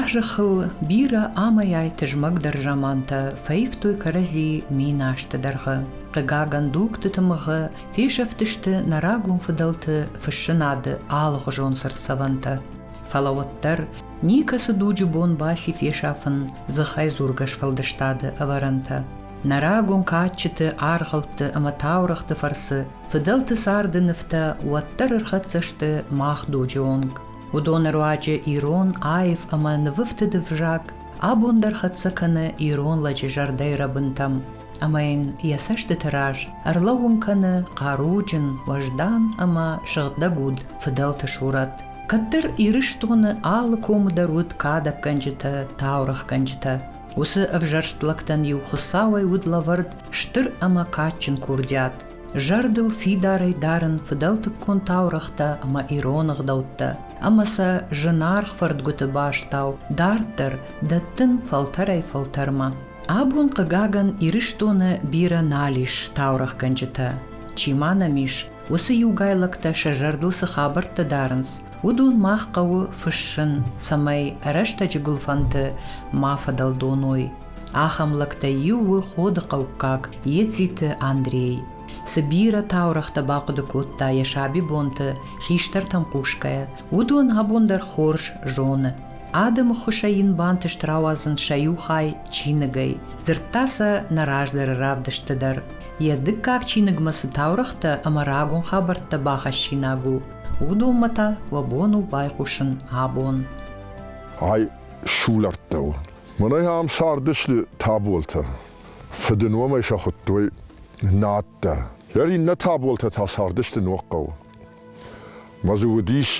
Азыхыл бирӕ амӕйай тызмӕгдӕр замантӕ фӕивтой кӕрӕдзи мин азты дӕргъы. Хъыгагӕн, дугты тымыгъы фесӕфтысты нӕ рагон фыдӕлты фыссынады алыгъуызон цыртдзӕвӕнтӕ. Фӕлӕ уӕддӕр никӕцы дуджы бон баци фесафын дзыхӕйдзургӕ сфӕлдыстады ӕвӕрӕнтӕ. Нӕ рагон кадджыты, аргъӕутты ӕмӕ таурӕгъты фӕрцы Фыдӕлты царды нывтӕ уӕддӕр ӕрхӕццӕ сты мах дуджы онг. Уыдоны руаджы ирон аив ӕмӕ нывыфты дывзаг абон дӕр хӕццӕ кӕны ирон лӕджы зӕрдӕйы рӕбынтӕм ӕмӕ йын йӕ цӕстыты раз ӕрлӕууын кӕны хъаруджын, уӕздан ӕмӕ сыгъдӕг уд фыдӕлты сурӕт. Кӕддӕр Ирыстоны алы комы дӕр уыд кадӕггӕнджытӕ, таурӕгъгӕнджытӕ. Уыцы ӕвзӕрст лӕгтӕн иу Хуыцауӕй уыд лӕвӕрд стыр ӕмӕ кадджын курдиат, зӕрдыл фидарӕй дарын фыдӕлтыккон таурӕгътӕ ӕмӕ ирон ӕгъдӕуттӕ ӕмӕ сӕ зынаргъ фӕрдгуыты бӕстау дарддӕр дӕттын фӕлтӕрӕй-фӕлтӕрмӕ. Абон, хъыгагӕн, Ирыстоны бирӕ нал ис таурӕгъгӕнджытӕ. Чи ма нӕм ис, уыцы иугайлӕгтӕ сӕ зӕрдыл цы хабӕрттӕ дарынц, уыдон мах хъӕуы фыссын, цӕмӕй рӕстӕджы гуылфӕнты ма фӕдӕлдоной. Ахӕм лӕгтӕй иу у Ходыхъӕуккаг Ециты Андрей. Цы бирӕ таурӕгътӕ бахъуыды кодта йӕ сабибонты, хистӕртӕм хъусгӕйӕ, уыдон абон дӕр хорз зоны. Адӕмы ххуысӕй йын бантыст рауадзын сӕ иу хай чиныгӕй. Дзырдта сӕ нӕ раздӕры равдысты дӕр. Йӕ дыккаг чиныгмӕ цы таурӕгътӕ ӕмӕ рагон хабӕрттӕ бахӕссинаг у, уыдонмӕ та уӕ бон у байхъусын абон. Ай сулӕфтӕ у. Мӕнӕ ам цардысты Таболтӕ. Фыдыномӕй сӕ хуыдтой Нӕттӕ. Йӕ иннӕ Таболтӕ та цардысты Ногхъӕуы. Мӕ дзы уыдис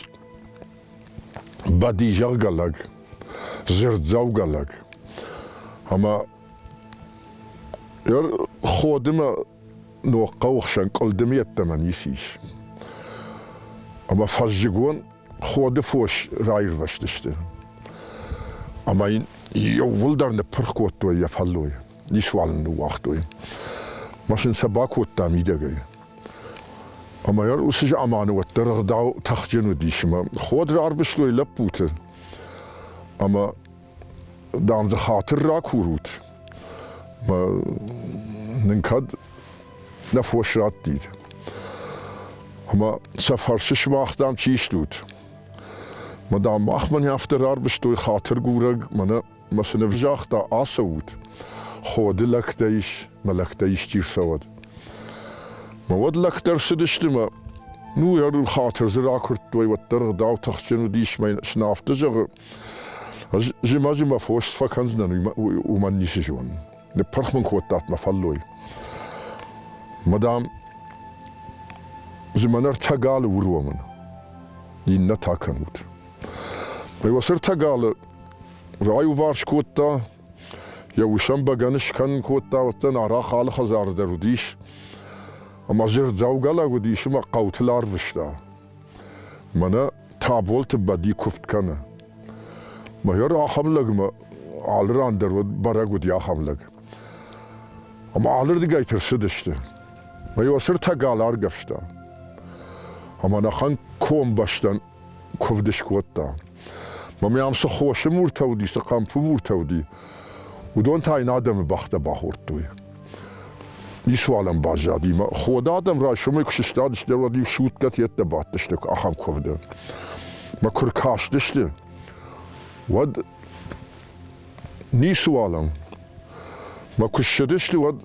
Бадизӕггӕ лӕг, дзырддзӕугӕ лӕг. Ӕмӕ йӕ ходымӕ Ногхъӕуы хсӕн къуылдымы йеддӕмӕ ницы ис. Ӕмӕ фӕззыгон ходы фос раирвӕзтысты. Ӕмӕ йын еууылдӕр ныппырх кодтой йӕ фӕллой, ницуал ын ныууагътой. Машин сӕ бакодта мидӕгӕй. Ӕмӕ йӕ уыцы заманы уӕддӕр ӕгъдау тыхджын уыдис, ӕмӕ ход рарвыстой лӕппуты. Ӕмӕ дам дзы хатыр ракурут мӕ нын кӕд нӕ фос раттид ӕмӕ сӕ фӕрсы сымах дам чи стут мӕ дам махмӕ не афтӕ рарвыстой хатыргурӕг мӕнӕ мӕ сын ӕвзагъта ацӕут ходы лӕгтӕ ис мӕ лӕгтӕ исчи рцӕуӕд мӕ уӕд лӕгтӕ рцыдысты мӕ ну ӕру хатыр дзы ракуырдтой уӕддӕр ӕгъдау тыхджын уыдис мӕ сын афтӕ зӕгъы Зима-зима фос фӕкӕндзынӕн, уымӕн ницы зон. Ныппырх мын кодтат мӕ фӕллой. Мадам, зымӕн ӕртӕ галы уромын, иннӕ та кӕнут. Мӕ уацы ӕртӕ галы раиуварс кодта, йӕ усӕн бӕгӕны скӕнын кодта, уӕддӕн арах алы хӕдзары дӕр уыдис, ӕмӕ дзырдзӕугӕлӕг уыдис ӕмӕ хъӕутыл арвыста. Мӕнӕ Таболты Бӕди куывд кӕны. Майор ахӕм лӕгмӕ алы ран дӕр уыд бӕрӕг уыди ахӕм лӕг. Ӕмӕ алырдыгӕй тырсыдысты. Майор сыртӕ гал аргӕвста. Ӕмӕ нӕхӕн комбӕстӕн куывд скодта. Мӕ ам цы хосы муртӕ уыди, цы хъӕмпы муртӕ уыди, уыдон та йын адӕмы бӕхтӕ бахордтой. Ницуал ӕм баззади. Ход адӕм райсомӕй куы сыстадысты, уӕд-иу сутгӕт йеддӕ бадтысты ахӕм куывды. Мӕ куы ркастысты, уӕд ницуал ӕм. Мӕ куы ссыдысты, уӕд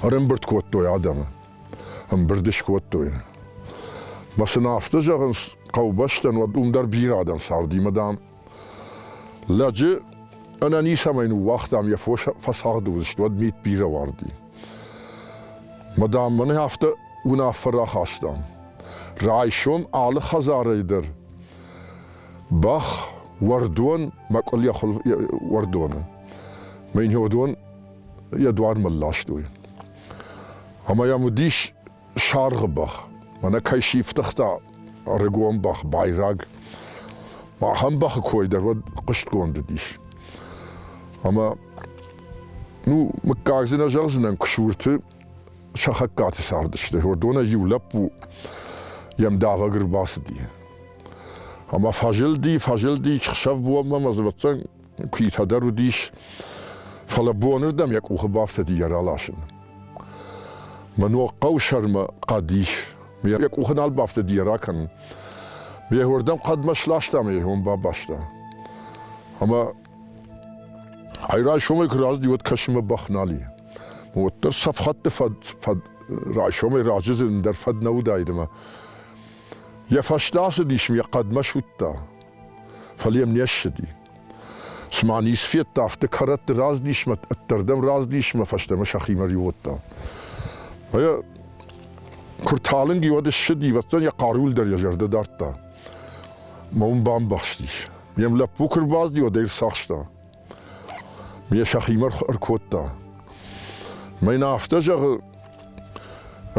ӕрӕмбырд кодтой адӕмы. Ӕмбырд скодтой. Мӕ сын афтӕ зӕгъынц, хъӕубӕстӕн уӕд уым дӕр бирӕ адӕм царди, мадам, Лӕджы ӕнӕницӕмӕй ныууагътам, йӕ фос фӕцагъды уыдзысты, уӕд мит бирӕ уарди. Мадам, мӕнӕ афтӕ уынаффӕ рахастам. Райсом алы хӕдзарӕй дӕр бӕх, уӕрдон, мӕкъуыл йӕ хуыл уӕрдоны, мӕ уыдон йӕ дуармӕ ластой. Ӕмӕ йӕм уыдис саргъы бӕх, мӕнӕ кӕй сифтыгъта ӕрыгон бӕх, байраг. Ахӕм бӕхы кой дӕр уӕд хъуыстгонд уыдис. Ӕмӕ ну мыггаг дзы нӕ зӕгъдзынӕн, куы сурты Сахаккаты цардысты. Уырдонӕй иу лӕппу йӕм давӕг ӕрбацыди. Ӕмӕ фӕзылди, фӕзылди, хсӕв бонмӕ, мӕ дзывӕццӕн куитӕ дӕр уыдис, фӕлӕ бонырдӕм йӕ къухы бафтыди йӕ раласын. Мӕ ног хъӕу сӕрмӕ хъӕд ис. Йӕ къухы нал бафтыди йӕ ракӕнын. Ме уырдӕм хъӕдмӕ сласта мӕ йӕ уым бабаста. Ӕмӕ ай райсомӕй куы разыди, уӕд кӕсынмӕ бӕх нал и. Уӕддӕр цӕф хатты фӕд, фӕд райсомӕй разы дзы ӕндӕр фӕд нӕ уыдаид ӕмӕ йӕ фӕстӕ ацыдис, йӕ хъӕдмӕ суыдта. Фӕлӕ йӕм не ссыди. Цыма низ федта, афтӕ кӕрӕтты раздисмӕ, ӕддӕрдӕм раздисмӕ фӕстӕмӕ сӕхимӕ риуыгъта. Фӕлӕ куы рталынг и, уӕд ссыди, ӕвӕццӕн йӕ хъаруйыл дӕр йӕ зӕрдӕ дардта. Мӕ уым бамбӕхстис. Ме лӕппу куы рбазди, уӕд ӕй рцахста. Ме сӕхимӕ ӕркодта. Мӕ йын афтӕ зӕгъы,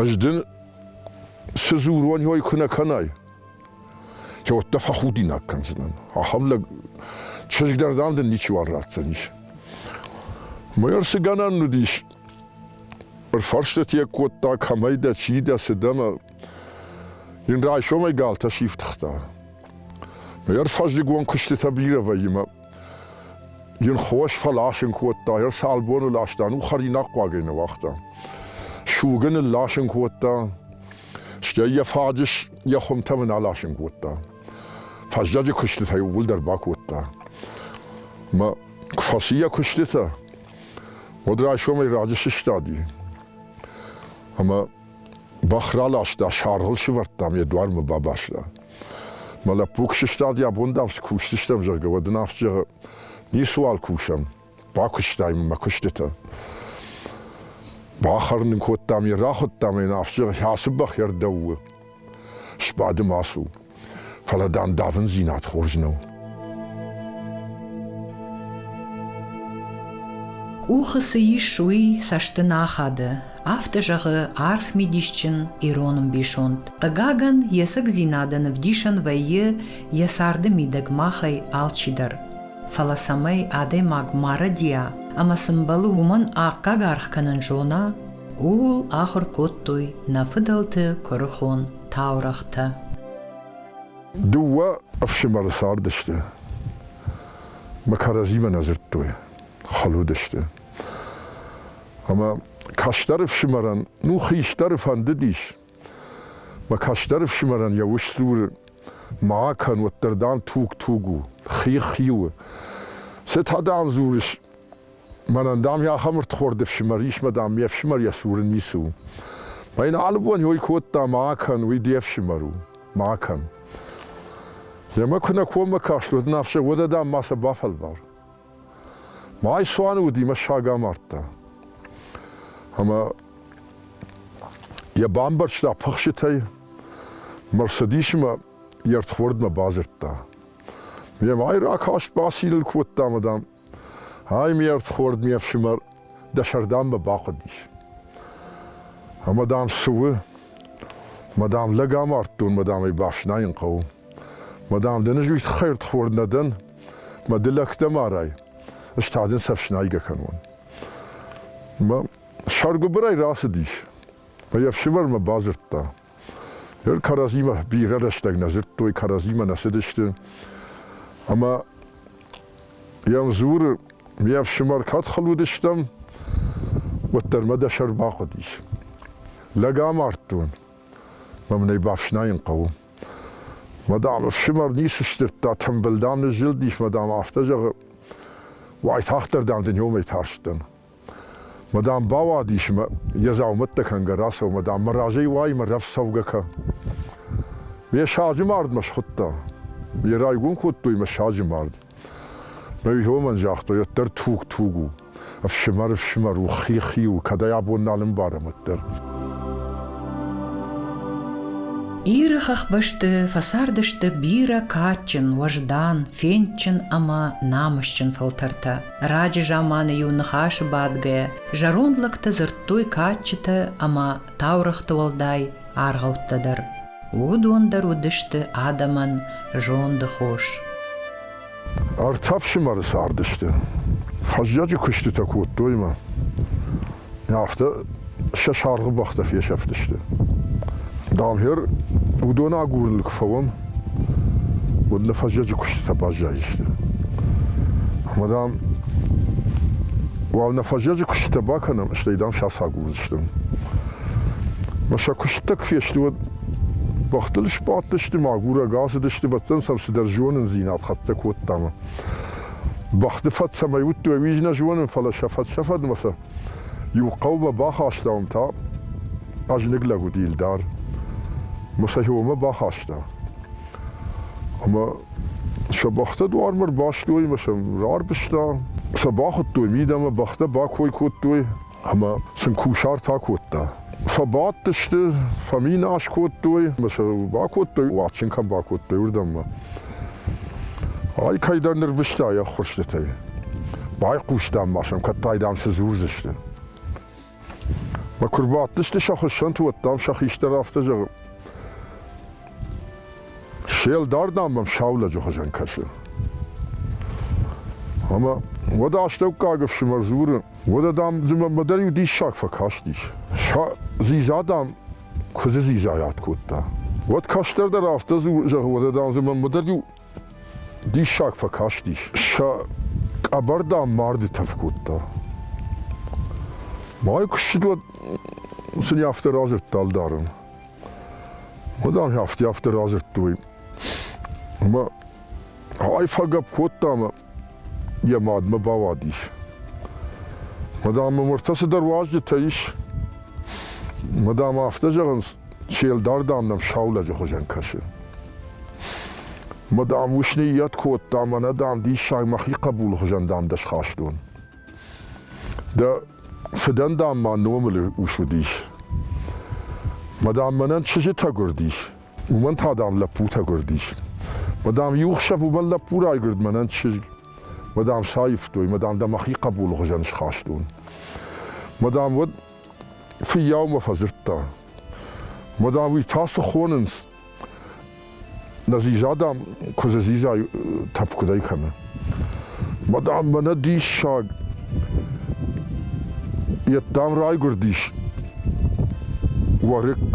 ӕз дын цы дзур уон, уой куы нӕ кӕнай, Че уӕдта фӕхудинаг кӕндзинан. Ахӕм лӕг чызг дӕр, дам, дын ничиуал ратдзӕнис. Мыр цы гӕнӕн уыдис? Ӕрфӕрстыт йӕ кодта, кӕмӕй дӕ, чи дӕ, цы дӕ, мӕ Йын райсомӕй галтӕ сифтыгъта. Йӕр фӕззыгон куыстытӕ бирӕ вӕййы мӕ йын хос фӕласын кодта, йӕр цалбоны ласта, ну хӕринаг хъуагӕй нӕ уагъта. Сугы нылласын кодта, Стӕй йӕ фаджыс йӕ хуымтӕм ын аласын кодта. Фӕззӕджы куыстытӕ иууылдӕр бакодта. Мӕ куы фӕци йӕ куыстытӕ, уӕд райсомӕй раджы сыстади. Ӕмӕ бӕх раласта, саргъыл сывӕрдтам, йӕ дуармӕ бабаста. Мӕ лӕппу куы сыстади, абон дам цы кусдзыстӕм, зӕгъгӕ, уӕд ын афтӕ зӕгъы, ницыуал кусӕм, бакуыстам мӕ куыстытӕ. Бахӕрын ын кодтам, йӕ рахуыдтам, йын афсир, ацы бӕх йӕ рдӕу у. Сбады ма цу. Фӕлӕ дам давындзинад хорз нӕу. Къухы цы ис, уый цӕсты нӕ ахады, афтӕ зӕгъы арф мидисджын ирон ӕмбисонд. Хъыгагӕн, йе цӕгдзинадӕн ӕвдисӕн вӕййы йӕ царды мидӕг махӕй алчидӕр. фӕлӕ цӕмӕй адӕймаг марӕдийа ӕмӕ сын бӕлы уымӕн аккаг аргъ кӕнын зона, ууыл ахуыр кодтой нӕ фыдӕлты куырыхон таурӕгътӕ. Дыууӕ ӕфсымӕры цардысты мӕ кӕрӕдзимӕ нӕ дзырдтой, хыл уыдысты. Ӕмӕ кӕстӕр ӕфсымӕрӕн, ну, хистӕры фӕндыдис Мӕ кӕстӕр ӕфсымӕрӕн йӕ ус дзуры, ма кӕн, уӕддӕр дам туг-туг у, хи-хи у. Цы та дам дзурыс? Мӕнӕн, дам, йӕ ахӕм ӕрдхорд ӕфсымӕр ис, мӕ дам, ме фсымӕр йӕ цуры ницы у. Мӕ йын алы бон йой кодта, ма кӕн, уый де фсымӕр у, ма кӕн. Йемӕ куы нӕ коммӕ каст, уӕд ын ӕфсӕг уӕдӕ, дам, ма сӕ бафӕлвар. Майсуаны уыди мӕссаг амардта. Ӕмӕ йӕ бамбӕрзта пыхсытӕй, мӕ рцыдис ӕмӕ йе рдхордмӕ бадзырдта. Ме мӕй ракаст бациныл кодта ӕмӕ, дам, ай ме рдхорд ме фсымӕр дӕ сӕрдаммӕ бахъуыдис. Ӕмӕ, дам, цы у? Мӕ дам, лӕг амардтон, мӕ дам ӕй бафснайын хъӕуы. Мӕ дам, дӕ нызуит хӕрдхор нӕ дӕн, Мӕ ды лӕгтӕ марай, ӕз та дын сӕ фснайгӕ кӕнон. Мӕ сӕргуыбырӕй рацыдис. Мӕ йе фсымӕрмӕ бадзырдта. Ныр кӕрӕдзимӕ бирӕ рӕстӕг нӕ зыдтой, кӕрӕдзимӕ нӕ цыдысты. Ӕмӕ йӕм дзуры, ме фсымӕр, кӕд хыл уыдыстӕм, уӕддӕр мӕ дӕ сӕр бахъуыдис. Лӕг амардтон. Мӕ мын ӕй бафснайын хъӕуы. Мадам, ӕфсымӕр ницы сдзырдта, тымбыл, дам, ныззылдис, мадам, афтӕ зӕгъы. Уайтагъддӕр, дам, дын иумӕ тарстӕн. Мадам бауадис мӕ йӕ дзаумӕттӕ кӕнгӕ рацӕуы, мадам, мӕ разӕй уай, мӕ рӕф цӕугӕ кӕ. Ме саджы мардмӕ схуыдта. Йӕ райгом кодтой мӕ саджы мард. Нӕ уыдонмӕн загътой, уӕддӕр туг-туг у. Ӕфсымӕр, ӕфсымӕр у, хи-хи у, кӕдӕй абон нал ӕмбарӕм уӕддӕр. Иры хӕхбӕсты фӕцардысты бирӕ кадджын, уӕздан, фендджын ӕмӕ намысджын фӕлтӕртӕ. Раджы заманы-иу ныхасы бадгӕйӕ, зӕронд лӕгтӕ дзырдтой кадджытӕ ӕмӕ таурӕгъты уӕлдай аргъӕуттӕ дӕр. Уыдон дӕр уыдысты адӕмӕн зонды хос. Ӕртӕ ӕфсымӕры цардысты. Фӕззӕджы куыстытӕ кодтой мӕ. Афтӕ сӕ саргъы бӕхтӕ фесӕфтысты. Дамгьер, уыдон агурын куы фӕуӕм, уӕд нӕ фӕззӕджы куыстытӕ баззайдзысты. Ӕмӕ, дам, уал нӕ фӕззӕджы куыстытӕ бакӕнӕм, стӕй, дам, сӕ ацагурдзыстӕм. Мӕ сӕ куыстытӕ куы фесты, уӕд бӕхтыл сбадтысты, мӕгурӕг ацыдысты, бӕттӕн сӕм цыдӕр зонындзинад хӕццӕ кодтам. Бӕхты фӕд цӕмӕй уыдтой, уый нӕ зонын, фӕлӕ сӕ фӕд-сӕфӕдмӕ сӕ иу хъӕумӕ бахастам, та хъӕзныг лӕг уыди Илдар. Мӕ сӕ иомӕ бахаста. Ӕмӕ сӕ бӕхтӕ дуармӕ рбастой, мӕ сӕм рарвыста. Сӕ бахуыдтой мидӕмӕ, бӕхтӕ бакой кодтой, ӕмӕ сын кусарт акодта. Фӕбадтысты, фӕминас кодтой, ӕмӕ сӕ бакодтой, уадчин кӕм бакодтой, уырдӕммӕ. Ай кӕйдӕр нырвыста йӕ ххуырстытӕй. Байхъусдам ма сӕм, кӕд та дам цы дзурдзысты. Мӕ куы рбадтысты сӕ хуыссӕнты, уӕд дам сӕ хистӕр афтӕ зӕгъы. Се лдар, дам, мӕм саулӕджы хуызӕн кӕсы. Ӕмӕ уӕд астӕуккаг ӕфсымӕр дзуры, уӕдӕ, дам, дзы мӕнмӕ дӕр иу диссаг фӕкастис. Зиза, дам, куыдзы зизайад кодта. Уӕд кӕстӕрдӕр афтӕ дзуры, зӕгъы, уӕдӕ, дам, дзы мӕнмӕ дӕр иу диссаг фӕкастис. Сӕ къӕбӕр, дам, марды тӕф кодта. Май куысджыт уӕд сын афтӕ радзырдта ӕлдарын. Хъуыдаг афтӕ афтӕ радзырдтой. Ӕмӕ ай фӕгӕпп кодта ӕмӕ йӕ мадмӕ бауадис. Мадам, мыртӕ цыдӕр уазджытӕ ис. Мадам, афтӕ зӕгъынц, се лдар, дам, нӕм саулӕджы хуызӕн кӕсы. Мадам, ус ныййӕт кодта, мӕнӕ, дам, диссаг мӕхи хъӕбулы хуызӕн, дам, дӕ схастон. Дӕ фыдӕн, дам, ма номыл ус уыдис. Мӕ дам, мӕнӕн чызджытӕ гуырдис, уымӕн та, дам, лӕппутӕ гуырдис. Мӕ дам, иу хсӕв уымӕн лӕппу райгуырд мӕнӕн чызг. Мӕ дам, саивтой, мӕ дам, дӕ мӕхи хъӕбулы хуызӕн схастон. Мӕ дам, уӕд фыййаумӕ фӕдзырдта. Мӕ дам, уый та цы хонынц, Нӕ зизадӕ куыдзы зизай тӕф куыдӕй кӕны. Мадам, мӕнӕ диссаг. Йеддӕм райгуырдис Уарык.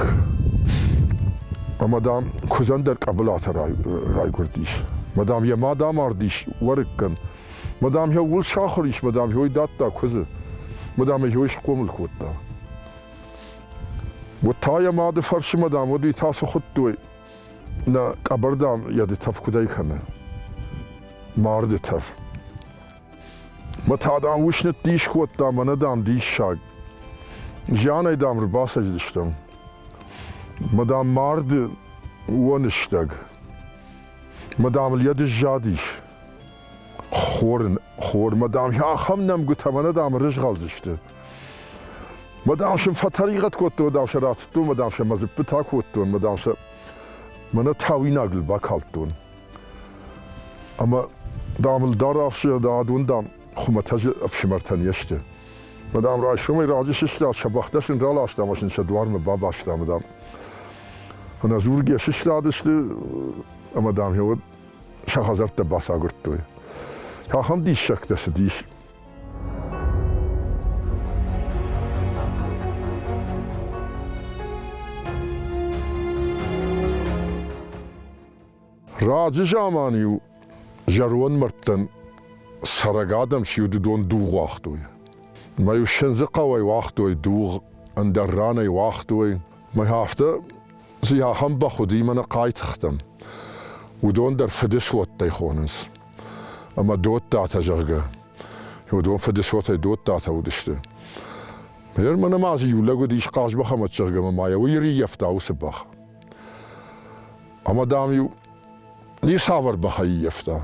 Ӕмӕ, дам, куыдзӕн дӕр къӕбылатӕ райгуырдис. Мадам йӕ мад амардис Уарыккӕн. Мадам йӕ ууыл сахуыр ис, мадам йой дӕтта куыдзы. Мадам ӕй схъомыл кодта. Уӕд та йӕ мады фӕрсымӕ, дам, уӕд уый та цы хуыдтой? Нӕ къӕбӕр, дам, йӕ дытӕф куыдӕй кӕны? Марды тӕф. Мӕ та, дам, ус ныддис кодта, мӕнӕ, дам, диссаг. Зианӕй, дам, ӕрбацӕдзыстӕм. Мӕ, дам, марды уоныстӕг. Мадам, йӕ дыззадис. Хор, хормӕ, дам, ахӕм нӕмгуытӕ мӕнӕ, дам, рызгъӕлдзысты. Мадам сӕм фӕтӕригъӕд кодтон, мадам сӕ ратыдтон, мадам сӕ мӕ дзыппытӕ кодтон, мадам сӕ мӕнӕ тауинагыл бакалдтон. Ӕмӕ, дам, ӕлдар ӕфсымӕр, адон, дам, хуымӕтӕджы ӕфсымӕртӕн не сты. Мадам, райсомӕй раджы сыстад, сӕ бӕхтӕ сын раласта ӕмӕ сын сӕ дуармӕ бабаста, мадам. Ӕнӕдзургӕ сыстадысты, ӕмӕ, дам, уӕд сӕ хӕдзӕрттӕ бацагуырдтой. Ахӕм диссӕгтӕ цыдис. Раджы заман-иу зӕронд мӕрдтӕн цӕрӕг адӕм сиудыдон дугъ уагътой. Мӕ сындзы хъӕуӕй уагътой дугъ, ӕндӕр ранӕй уагътой. Мӕ афтӕ Цы ахӕм бӕх уыди, мӕнӕ хъайтыхтӕм. Уыдон дӕр фыдысоттӕй хонынц. Ӕмӕ Додтатӕ, зӕгъгӕ. Уыдон фыдысотӕй Додтатӕ уыдысты. Ныр мӕнӕ ма дзы иу лӕг уыдис Хъазмӕхӕмӕт, зӕгъгӕ, ма йӕ уый ӕрыййӕфта уыцы бӕх. Ӕмӕ, дам-иу ницавӕр бӕх ӕййӕфта.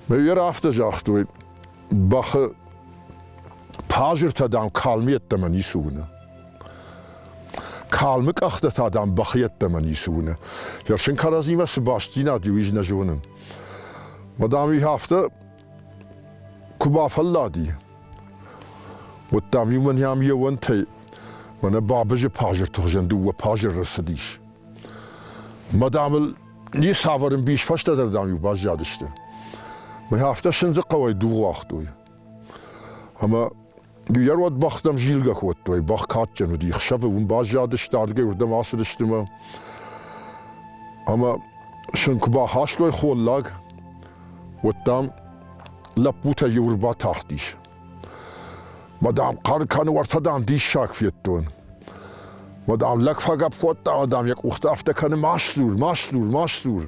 Мӕ йӕ афтӕ загътой, бӕхы пазыртӕ, дам, калм йеддӕмӕ ницы уыны. Калмы къӕхтӕ та, дам, бӕхы йеддӕмӕ ницы уыны. Йӕ фсин кӕрӕдзимӕ цы бастдзинад и, уый ӕз нӕ зонын. Ма, дам, уый афтӕ куы бафӕллади, уӕд, дам, иу мӕн йӕм йе уӕнтӕй мӕнӕ бабызы пазырты хуызӕн дыууӕ пазыры рацыдис. Ма, дам, ыл ницавӕр ӕмбис фӕстӕдӕр, дам, иу баззадысты. Мӕ афтӕ сындзы хъӕуӕй дугъ уагътой. Ӕмӕ йӕ уӕд бӕхтӕм зилгӕ кодтой. Бӕх кадджын уыди, хсӕвы уым баззадысты, адгӕй уырдӕм ацыдысты мӕ. Ӕмӕ сын куы бахастой холлаг, уӕд дам лӕппутӕ иу ӕрбатахтис. Мӕ дам хъӕр кӕны уӕртӕ дам диссаг федтон. Мӕ дам лӕг фӕгӕпп кодта, мӕ дам йӕ къухтӕ афтӕ кӕны ма ссур, ма ссур, ма ссур.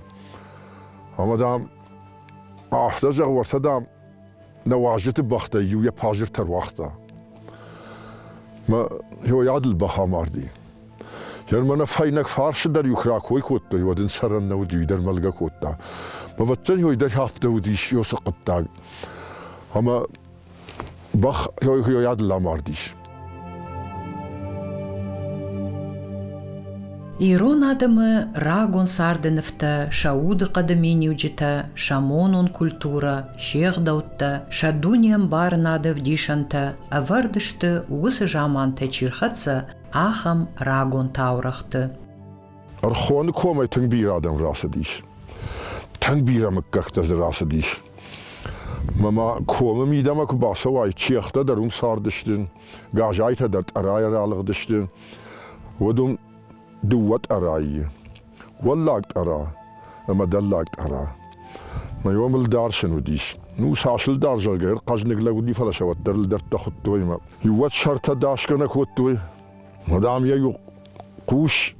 Ӕмӕ дам афтӕ зӕгъ уӕртӕ дам Нӕ уазджыты бӕхтӕй иу йӕ пажиртӕ руагъта. Мӕ йойадыл бӕх амарди. Йӕрмӕ нӕ фӕйнӕг фарсы дӕр иу куы ракой кодтой, уӕд ын сӕрӕн нӕ уыди, уый дӕр мӕлгӕ кодта. Ӕвӕццӕн йой дӕр афтӕ уыдис Иосы хъуыддаг. Ӕмӕ бӕх йойадыл амардис. Ирон адӕмы рагон царды нывтӕ, сӕ удыхъӕды миниуджытӕ, сӕ монон культурӕ, се гъдӕуттӕ, сӕ дунеӕмбарынады вдисӕнтӕ ӕвӕрд сты уыцы замантӕй чи рхӕццӕ, ахӕм рагон таурӕгъты. Рхоны комӕй тынг бирӕ адӕм рацыдис. Тӕн бирӕ мыггӕгтӕ дзы рацыдис. Мӕ ма комы мидӕмӕ куы бацӕуай, чехтӕ дӕр уым цардысты, газайтӕ дӕр тъӕрайӕ ралыгъдысты. Уыд уым дыууӕ тъӕрайы. Уӕллаг тъӕра ӕмӕ дӕллаг тъӕра. Мӕ омыл дӕрсын уыдис. Ну, сасыл дӕрзӕгӕй ӕрхъӕзныг лӕг уыди, фӕлӕ сӕ уӕддӕр лыдӕрттӕ хуыдтой мӕ. Иу уӕд сӕртӕ дасгӕ нӕ кодтой, Дам, йӕ иу хъус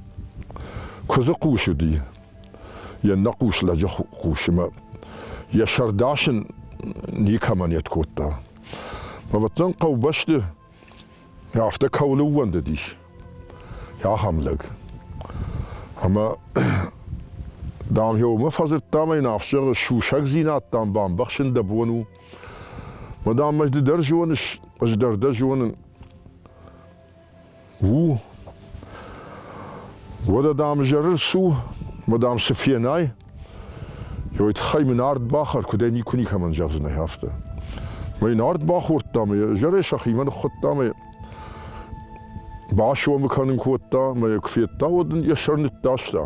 куыдзы хъус уыди, йе ннӕ хъус лӕджы хъус ӕмӕ йӕ сӕр дасын никӕмӕн не кодта. Ӕвӕццӕн хъӕубӕсты афтӕ кӕуыл ӕууӕндыдис, ахӕм лӕг. Ӕмӕ, дам, йӕ уымӕ фӕдзырдта мӕ йын ӕфсӕры сусӕгдзинад, дам, бамбӕхсын дӕ бон у. Мадам, ӕз ды дӕр зоныс, ӕз дӕр дӕ зонын. У? Уӕдӕ, дам, зӕры цу, мадам, цы фенай, ой тыххӕй мын ард бахӕр, куыдӕй никуы никӕмӕн зӕгъдзынӕ афтӕ. Мӕ йын ард бахордта, мӕ зӕрӕ сӕхимӕ ныххуыдта, мӕ басомы кӕнын кодта, мӕ куы федта, уӕд ын йӕ сӕр ныддаста.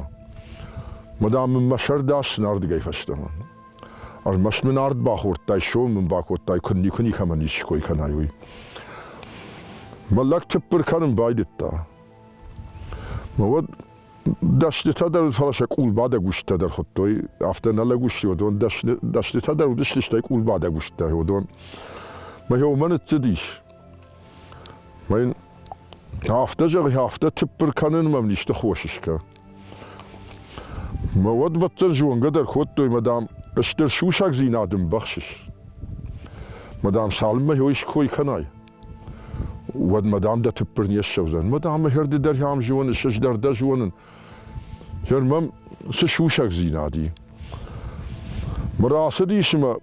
Мадам, мын мӕ сӕр даст снардыгӕй фӕстӕмӕ. Ӕрмӕст мын ард бахордтай, сом мын бакодтай, куы никуы никӕмӕн исчи кой кӕнай, уый. Мӕ лӕг тыппыр кӕнын байдыдта. Мӕ уӕд дӕснытӕ дӕр, фӕлӕ сӕ къулбадӕг устытӕ дӕр хуыдтой, афтӕ нӕ лӕг усти уыдон дӕснытӕ дӕр уыдысты, стӕй къулбадӕг устытӕ уыдон. Мӕ уымӕ ныццыдис. Мӕ йын афтӕ зӕгъи, афтӕ тыппыр кӕнын мӕм исты хос скӕ. Мӕ уодвӕдтӕн зонгӕ дӕр кодтой, мадам, стыр сусӕгдзийнад ӕмбӕхсис. Мадам, цалынмӕ ё иской кӕнай, уӕд мадам дӕ тыппыр не ссӕудзӕн. Мадам, мӕ хӕрды дӕр ам зонын, сыздӕр дӕ зонын. Хӕр мӕм цы сусӕгдзинад и. Мӕ рацыдис ӕмӕ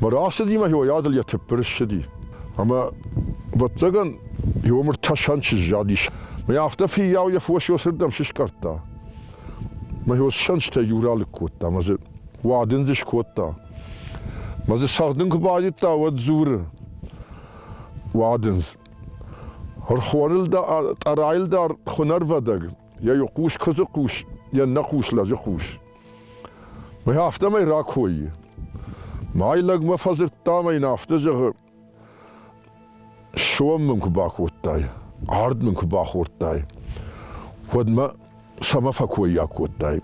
Мӕ рацыдимӕ йойадыл йӕ тыппыр ссыди. Ӕмӕ, ӕвӕццӕгӕн, его мыртасӕн чыззадис. Мӕ афтӕ фиййау йӕ фос ёсырдӕм сыскъӕрдта. Мӕ ёссӕнджытӕй иу ралыг кодта, мӕ дзы уадын дзы скодта. Мӕ дзы цӕгъдын куы байдыдта, уӕд дзуры. Уадындз. Ӕрхоныл дӕ, тъӕрайыл дӕр хуынӕрвадӕг, йӕ хъус куыдзы хъус, йе ннӕ хъус лӕджы хъус. Уый афтӕмӕй ракойы. Мӕй лӕгмӕ фӕдзырдта мӕ йын афтӕ зӕгъы, сом мын куы бакодтай, ард мын куы бахордтай, уӕдмӕ цӕмӕ фӕкоййаг кодтай.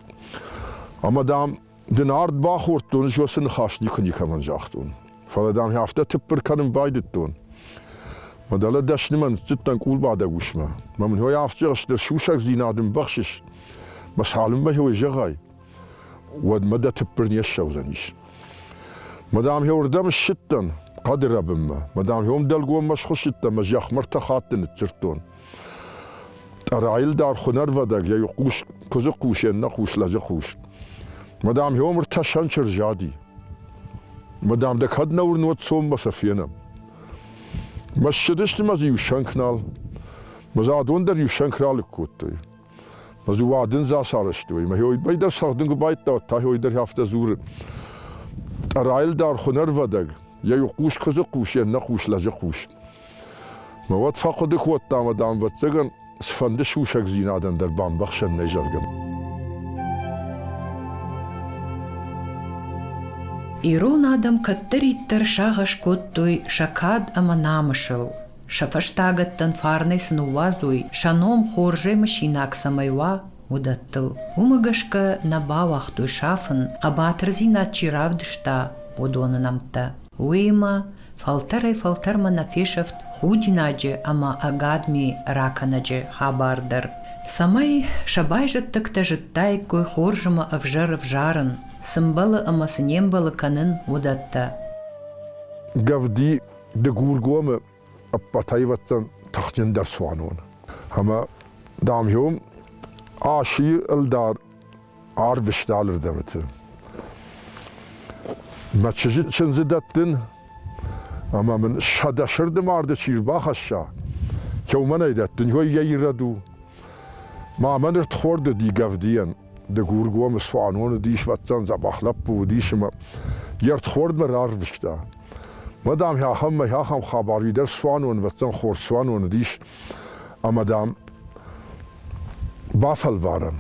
Ӕмӕ, дам, дын ард бахордтон, ӕз уӕ цы ныхас никуы никӕмӕн загътон. Фӕлӕ, дам, афтӕ тыппыр кӕнын байдыдтон. Мӕ дӕлӕ дӕснымӕ ныццыдтӕн къулбадӕг усмӕ. Мӕ мын ой афтӕ зӕгъ, стыр сусӕгдзинад ын бӕхсыс. Мӕ цалынмӕ хеуӕй зӕгъай, уӕдмӕ дӕ тыппыр не ссӕудзӕнис. Мадам уырдӕм ссыдтӕн, хъӕды рӕбынмӕ. Мадам уым дӕлгоммӕ схуыссыдтӕн, мӕ зӕхмӕ ртӕ хатты ныццырдтон. Райыл дӕр хунӕрвадӕг йӕ хъус, куыдзы хъусен нӕ хъус, лӕджы хъус. Мадам, ӕомыр тӕсӕн чырзади. Мадам, дӕ кӕд нӕ уырнод цоммӕ сӕ фенӕм. Мӕ ссыдысты мӕ дзы иу сӕнк нал. Мӕ зӕдон дӕр иу сӕнк ралыг кодтой. Ӕз иу адындз ацарӕзтой, мӕ хойбай дӕр цӕгъдын куы байдта, та хой дӕр афтӕ дзуры. Тъӕрайыл дӕр хуынӕрвадӕг, йӕ иу хъус куыдзы хъус, йе ннӕ хъус лӕджы хъус. Мӕ уӕд фӕхъуыды кодта ӕмӕ, дам, ӕвӕццӕгӕн, цыфӕнды сусӕгдзинадӕн дӕр бамбӕхсӕн нӕй, зӕгъгӕ. Ирон адӕм кӕддӕриддӕр сагъӕс кодтой сӕ кад ӕмӕ намысыл. Сӕ фӕстагӕттӕн фарнӕй цы ныууадзой, сӕ ном хорзӕй мысинаг цӕмӕй уа, уыдӕттыл. Уымӕ гӕсгӕ нӕ бауагътой сафын, хъӕбатырдзинад чи равдыста, уыдоны нӕмттӕ. Уыимӕ фӕлтӕрӕй-фӕлтӕрмӕ нӕ фесӕфт худинаджы ӕмӕ ӕгадми ракӕнӕджы хабар дӕр, цӕмӕй сӕ байзӕддӕгтӕ зыдтаиккой хорз ӕмӕ ӕвзӕр ӕвзарын, цы мбӕлы ӕмӕ цы не мбӕлы кӕнын, уыдӕттӕ. Гӕвди Дыгургомы ӕппӕтӕйвӕдтӕн тыхджындӕр цуанон. Ӕмӕ, дам-иу Асийы ӕлдар арвыста алырдӕмыты. Мӕ чызджы чындзы дӕттын, ӕмӕ мын сӕдӕ сырды марды чи рбахӕсса, кӕуымӕн ӕй дӕттын, уый йӕ ирӕд у. Ма мӕ ныр тхорды дигӕвдийӕн. Дыгургомы цуанон уыдис, вӕццӕн дзӕбӕх лӕппу уыдис, ӕмӕ йе рдхордмӕ рарвыста. Мадам, ахӕм мӕй ахӕм хабар идӕр цуаноны, вӕццӕн хор цуаноны дис, ӕмӕ, дам, бафӕлварӕм.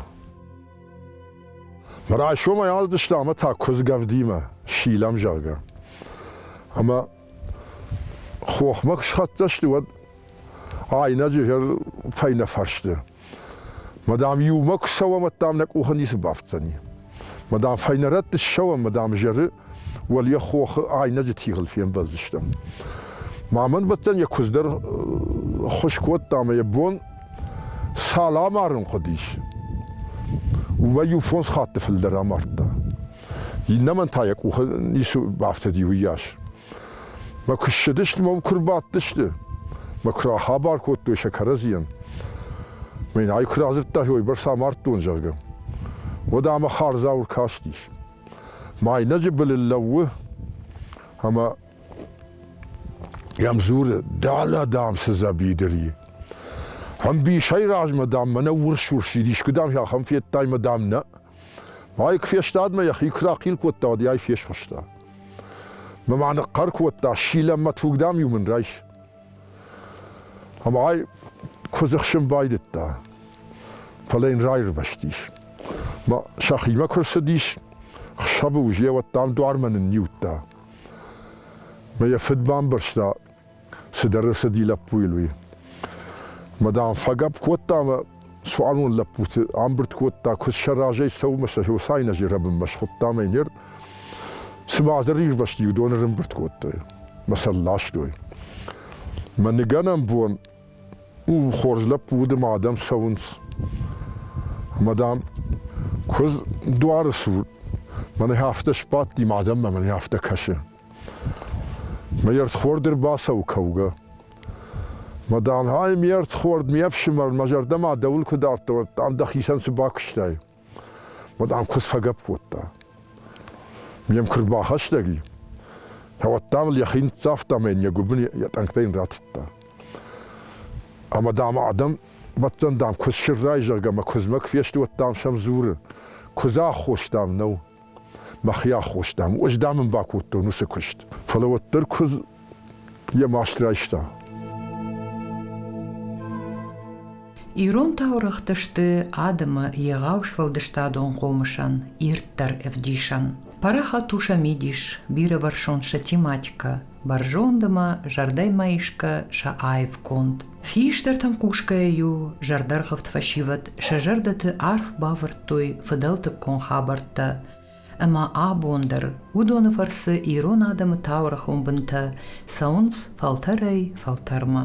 Райсомӕй аздыстам ӕмӕ та куыдзгӕвдимӕ силӕм, зӕгъгӕ. Ӕмӕ хохмӕ куы схӕццӕ сты, уӕд айнӕджы фӕйнӕ фӕрсты Мадам, иумӕ куы цӕуӕм, уӕд дам нӕ къухы ницы бафтдзӕни. Мадам, фӕйнӕрӕтты ссӕуӕм, мадам зӕры, уӕл йӕ хохы айнӕджы тигъыл фембӕлдзыстӕм. Ма мӕн бӕттӕн йӕ куыдз дӕр ххуыс кодта ӕмӕ йӕ бон цал амарын хъуыдис, уымӕй-иу фондз хатты фылдӕр амардта. Иннӕмӕн та йӕ къухы ницы бафтыди уыйас. Мӕ куы ссыдысты, мӕм куы рбадтысты, мӕ куы рахабар кодтой сӕ кӕрӕдзийӕн, мӕ ай куы радзырдта, уойбӕрц амардтон, зӕгъгӕ, уӕд ӕмӕ хардзау ркастис. Майнӕджы былыл лӕууы ӕмӕ йӕм дзуры, далӕ, дам, цы дзӕбидыр и. Ӕмбисӕй размӕ, дам, мӕнӕ урс-урс идис, куы, дам, ахӕм федтай мӕ, дам, нӕ. Майк фестадмӕ йӕхи куы рахъил кодта, уӕд йӕй фесхуыста. Мӕ ма ныхъхъӕр кодта, силӕм мӕ туг, дам-иу мын райс. Ӕмӕ ай куы дзыхсын байдыдта, фӕлӕ йын раирвӕзтис. Мӕ сӕхимӕ куы рцыдис, хсӕвы уыз йӕ уӕд дам дуармӕ нынниудта. Мӕ йӕ фыд бамбӕрста, Цыдӕр рацыди лӕппуйыл уый. Мӕ дам, фӕгӕпп кодта ӕмӕ цуанон лӕппуты амбырд кодта, куыд сӕ разӕй цӕуынмӕ сӕ Хосайна зӕрӕбынмӕ схуыдта ӕмӕ ныр цыма ӕдӕр ирвӕзти, уыдоны рымбырд кодтой мӕ сӕ ластой. Мӕ ныгӕнӕн бон у хорз лӕппу уды ма адӕм цӕуынц. Мӕ дам, куыдз дуары цур мӕнӕ афтӕ сбадти, мӕ адӕммӕ мӕнӕ афтӕ кӕсы. Ме рдхорд ӕрбацӕуы кӕугӕ. Мадам, ай ме рдхорд, ме фсымӕр, мӕ зӕрдӕмӕ дӕуыл куы дардтон, ӕрдӕм дӕхицӕн цы бакуыстай? Мадам куыдз фӕгӕпп кодта. Ме мкуы рбахӕстӕг и, кӕуӕд дам ыл йӕхи ныццавта мӕ йын йӕ гуыбын йӕ тъӕнгтӕй йын ратыдта. Ӕмӕ дам адӕм бӕттӕн дам куыдз сыррай, зӕгъгӕ, мӕ куыдзмӕ куы фесты, уӕд дам сӕм дзуры. Куыдзы аххос дам нӕу. мӕхи аххостам. Ӕз, дам, ын бакодтон уыцы куыст. Фӕлӕ уӕддӕр куыдз йӕ маст райста. Ирон таурӕгъты сты адӕмы егъау сфӕлдыстадон хъомысӕн ирддӕр ӕвдисӕн. Параха туша мидис, бирӕвӕрсон сӕ тематикӕ, Бӕрзондмӕ зӕрдӕмӕ исгӕ сӕ аив конд. Хистӕртӕн хъусгӕйӕ-иу зӕрдӕргъывд фӕсивӕд сӕ зӕрдӕты арф бавӕрдтой фыдӕлтыккон хабӕрттӕ, ӕмӕ абон дӕр уыдоны фӕрцы ирон адӕмы таурӕхон бынтӕ цӕуынц фӕлтӕрӕй фӕлтӕрмӕ.